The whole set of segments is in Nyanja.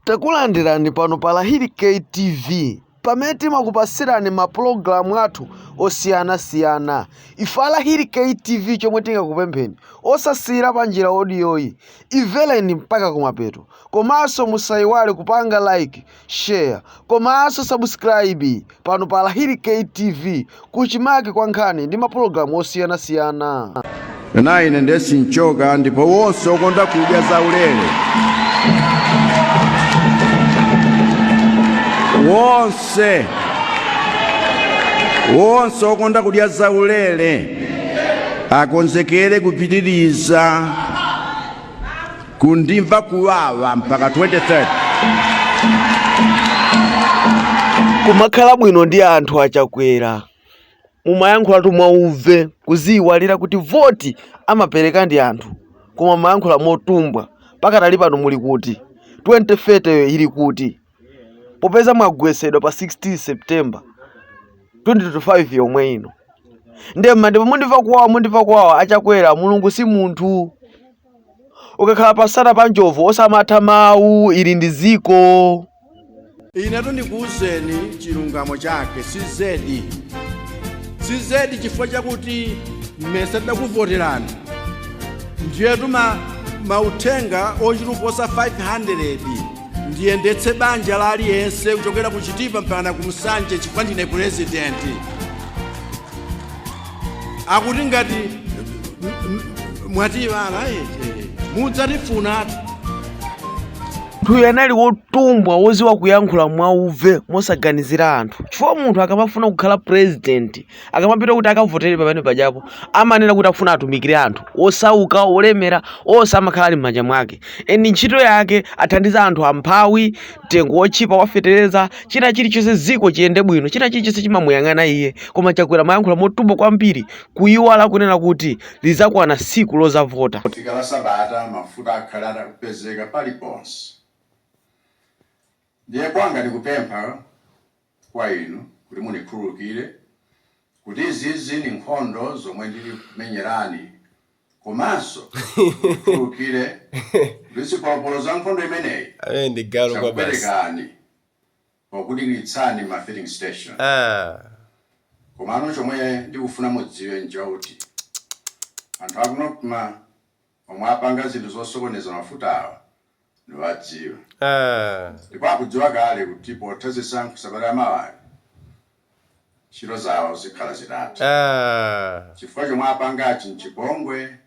Takulandirani pano pa Lahiri K TV pamene timakupatsirani ma program athu osiyana siyana ife a Lahiri K TV chomwe tingakupempheni osasiyira panjira audio yi imvereni mpaka kumapeto komanso musayiwale kupanga like share komanso subscribe pano pa Lahiri KTV kuchimake kwa nkhani ndi mapulogalamu osiyanasiyana. ena ine ndiye sinchoka ndipo wonse okonda kudya zaulere wonse wonse okonda kudya zaulere akonzekere kupitiriza kundimva kuwawa mpaka 2030. Kumakhala bwino ndi anthu a Chakwera mumayankhulatu mwauve kuziyiwalira kuti voti amapereka ndi anthu koma mumayankhula motumbwa pakadali pano muli kuti 2030 yo ili kuti? popeza mwagwetsedwa pa 16 september 2025 yomwe ino ndiye mma ndipo mundimva kuwawa mundimva kuwawa achakwera mulungu si munthu ukakhala pamsana pa njovu osamatha mawu uli ndi dziko inetu ndikuwuzeni chilungamo chake zizedi zizedi chifukwa chakuti ndimayesa tidakuvoterani ndiyetu ma mauthenga ochuluka kuposa 500 ndiyendetse banja la aliyense kuchokera ku chitipa mpaka ku Nsanje chifukwa ndine purezidenti akuti ngati m- m- mwatiyiwala eh, eh, mudzatifunatu Munthuyo anali wotumbwa wodziwa kuyankhula mwauve mosaganizira anthu chifukwa munthu akamafuna kukhala president akamapita kuti akavotere pamene pajapo amanena kuti akufuna atumikire anthu osauka olemera onse amakhala ali m'manja mwake and ntchito yake kuthandiza anthu amphawi mtengo wotchipa wafetereza china chilichonse dziko liyende bwino china chilichonse chimamuyang'ana iye koma chakwera amayankhula motumbwa kwambiri kuyiwala kunena kuti lizakwana tsiku lozavota ikatha sabata mafuta akhale atakupezeka paliponse ndiye kwanga ndikupempha kwa inu kuti munikhululukire kuti izi ni nkhondo zomwe ndili kukumenyerani komanso mutikhululukire kuti zipolopolo za nkhondo imeneyi Amene ndi galu kwa basi. zakupwetekani pokudikilitsani m'ma filling station. Ah. Komano chomwe ndikufuna mudziwe nchoti anthu akuno kma. omwe apanga zinthu zosokoneza mafutawa ndikuwadziwa ndipo akudziwa kale kuti pakutha zisankho sabata yamawayi, ntchito zawo zikhala zitatha chifukwa zomwe apangazi nchipongwe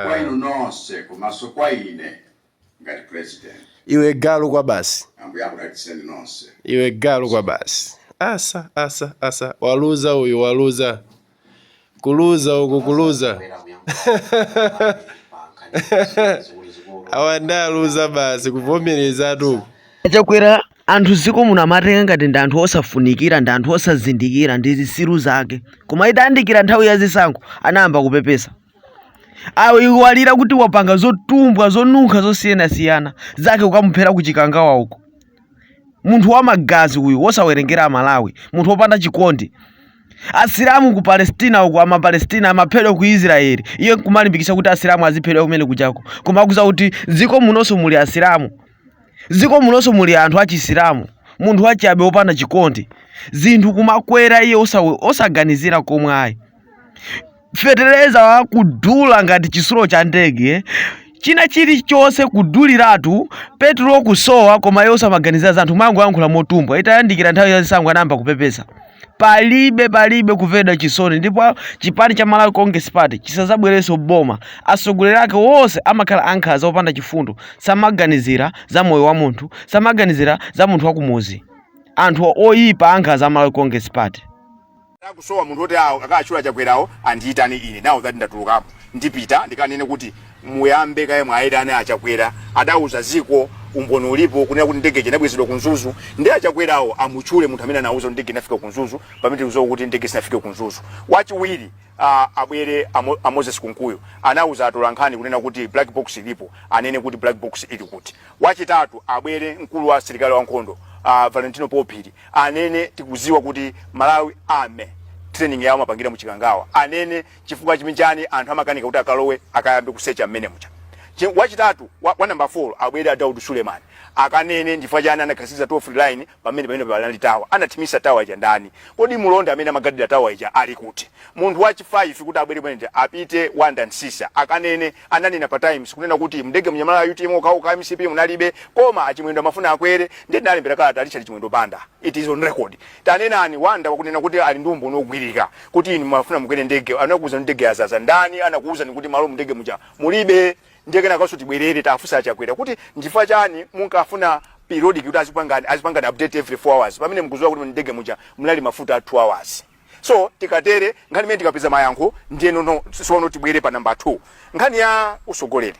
kwa inu nonse komanso kwa ine ngati president. Iwe galu kwabasi. Ambuye akudalitseni nonse. Iwe galu kwabasi. Asa asa asa waluza uyu waluza. kuluza uku kuluza awa ndi aluza basi kuvomerezatu uku chakwera anthu ziko muno amawatenga ngati ndi anthu osafunikira ndi anthu osazindikira ndi zisiru zake koma itayandikira nthawi ya zisankho anayamba kupepesa waiwala kuti wapanga zotumbwa zonunkha zosiyanasiyana zake kukamuphera ku chikangawa uko munthu wa magazi uyu wosawerengera amalawi munthu wopanda chikondi asilamu ku palestina uku amapalestina amaphedwa ku israeli iye nkumalimbikitsa kuti asilamu aziphedwa kumenekujako koma akudziwa kuti dziko munonso muli asilamu dziko munonso muli anthu achisilamu munthu wachabe wopanda chikondi zinthu kumakwera iye osawe- osaganizira nkomwe ayi fetereza wokudula ngati chisulo cha ndege china chilichonse kuduliratu petulo kusowa koma iwo samaganizira za anthu amangoyankhula motumbwa itayandikira nthawi ya zisankho anayamba kupepesa palibe palibe kumveredwa chisoni ndipo chipani cha malawi congress party chisazabwerenso boma atsogoleri ake wonse amakhala ankhaza opanda chifundo samaganizira za moyo wa munthu samaganizira za munthu wakumuzi anthu oyipa ankhaza a malawi congress party Akusowa munthu oti awo a achakwerawo andiyitane ine now that ndatulukapo ndipita ndikanene kuti muyambe kaye mwayitana achakwera adawuza dziko umboni ulipo kunena kuti ndege ija inabwezedwa ku mzuzu nde achakwerawo amutchule munthu amene anawuza kuti ndege inafika ku mzuzu pamene tikuziwa kuti ndege sinafike ku mzuzu wachiwiri ah, abwere Amo- a moses kunkuyu anawuza atolankhani kunena kuti black box ilipo anene kuti black box ili kuti wachitatu abwere mkulu wa asilikali wankhondo uh, valentino phiri anene tikuziwa kuti malawi army training yawo amapangira muchikangawa anene chifukwa chani anthu amakanika kuti akalowe akayambe kusecha mmene mucha Chi- wachitatu wa, wa number 4 abwere a Daud Suleiman akanene ndifukwa chani anakhazikitsa toll-free line pamene pamene panali tawa anathimisa tawa ija ndani kodi mulonda amene amagadira tawa ija ali kuti munthu wachi 5 oti abwere pamenepo a peter makossah akanene ananena pa times kunena kuti mndege munanyamula a utm okhaokha mcp munalibe koma achimwendo amafuna akwere ndiye ndinalembera kalata richard chimwendo banda it is on record tanenani wanda wakunena kuti ali ndi umboni ogwirika kuti inu mumafuna mukwere ndege anakuuza ndege yazaza ndani anakuuzani kuti malo mndege muja mulibe ndiye kenakaso tibwerere tiwafunse achakwera kuti nchifukwa chani munkafuna periodic kuti azipangani azipangani update every 4 hours pamene mkuziwa kuti ndege muja munali mafuta a 2 hours so tikatere nkhani imene tikupeza mayankho ndiyeno sono tibwere pa namba 2 nkhani ya utsogoleri